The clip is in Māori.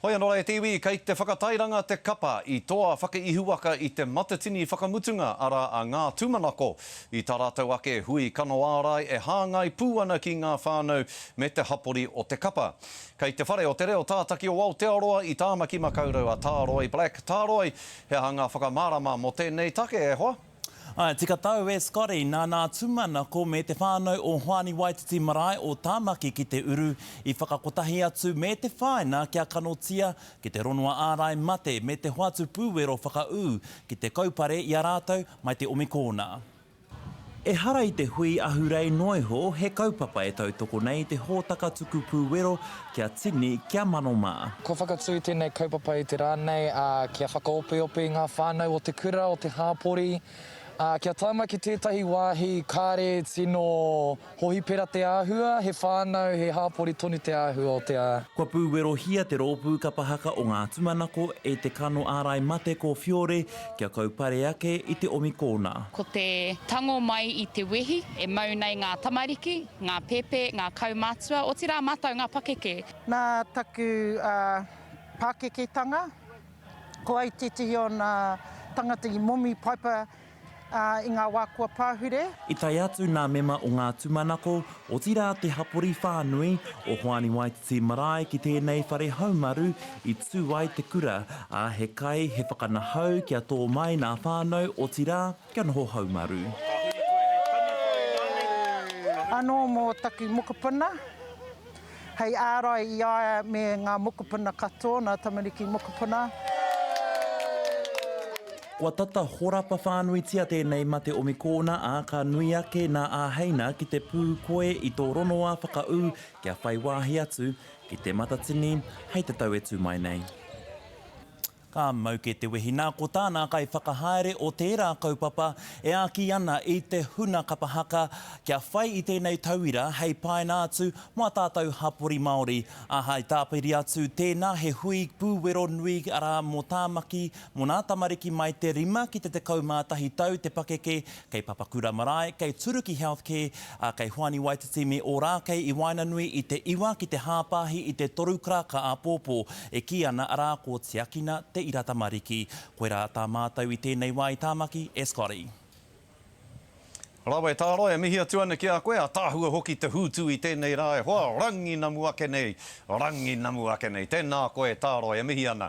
Hoi anō e te iwi, kei te whakatairanga te kapa i toa whakaihuwaka i te matatini whakamutunga, arā, a Ngā Tūmanako, i tā rātou ake hui kano ārai e hāngai pū ana ki ngā whānau me te hapori o te kapa. Kei Te Whare o te Reo Tātaki o Aotearoa i Tāmaki Makaurau a Tāroi Black. Tāroi, he aha ngā whakamārama mō tēnei take, e hoa? Āe, tika tau e Scotty, nāna a Tūmanako me te whānau o Hoani Waititi Marae o Tāmaki ki te uru, i whakakotahi atu me te whāina kia kanotia ki te ronua ārai mate me te hoatu pūwero whakaū ki te kaupare i a rātou mai te omikōna. Ehara i te hui ahurei noa iho, he kaupapa e tautoko nei i te hōtaka tuku pūwero Kia tini, kia mano mā. Kua whakatū tēnei kaupapa i te rā nei, ā, kia whakaopeope i ngā whānau o te kura, o te hāpori, ā, kia tāmaki ki tētahi wāhi kāre tino hohipera te āhua, he whānau, he hāpori tonu te āhua o te. Kua pūwerohia te rōpū kapa haka o ngā tumanako e te kano ārai mate ko Fiore kia kaupare ake i te omi kōna. Ko te tango mai i te wehi e mau nei ngā tamariki. Ngā pēpē, ngā kaumatua, otirā mātou ngā pakeke. Nā taku pākeketanga, ko au tētehi o ngā tangata i momi paipa i ngā wā kua pahure. I tae atu ngā mema o ngā tūmanako, otirā te hapori whānui, o Hoani Waititi Marae ki tēnei whare haumaru i tū ai te kura, ā, he kai, he whakanahau kia tō mai ngā whānau, otirā, kia noho haumaru. Anō mō taku mokopuna, hei ārai i a ia me ngā mokopuna katoa, ngā tamariki mokopuna. Kua tata horapa whānuitia tēnei mate o Mikoona, ā, ka nui ake nā Āheina ki te pū koe i tō rongoā whakaū kia whai wāhi atu ki Te Matatini hei te tau e tū mai nei. Ka mau kē te wehi nā ko tā nā kaiwhakahaere o tērā kaupapa e āki ana i te huna kapa haka kia whai i tēnei tauira hei paina atu mō ā tātou hapori Māori, ā, hai tāpiri atu tēnā he hui pūwero nui arā mō Tāmaki, mō nā tamariki mai te rima ki te tekau mā tahi tau te pakeke kei Papakura Marae, kei Turuki Healthcare, ā, kei Hoani Waititi me Ōrākei i waenanui i te iwa ki te hāpāhi i te toru karaka āpōpō e kī ana arā ko Tiakina Te Ira Tamariki. Koirā tā mātou i tēnei wā i Tāmaki, e Scotty. Rawe tāra, e mihi atu ana ki a koe, ataahua hoki te hūtu i tēnei rā e hoa, ranginamu ake nei, ranginamu ake nei. Tēnā koe tāra, e mihi ana.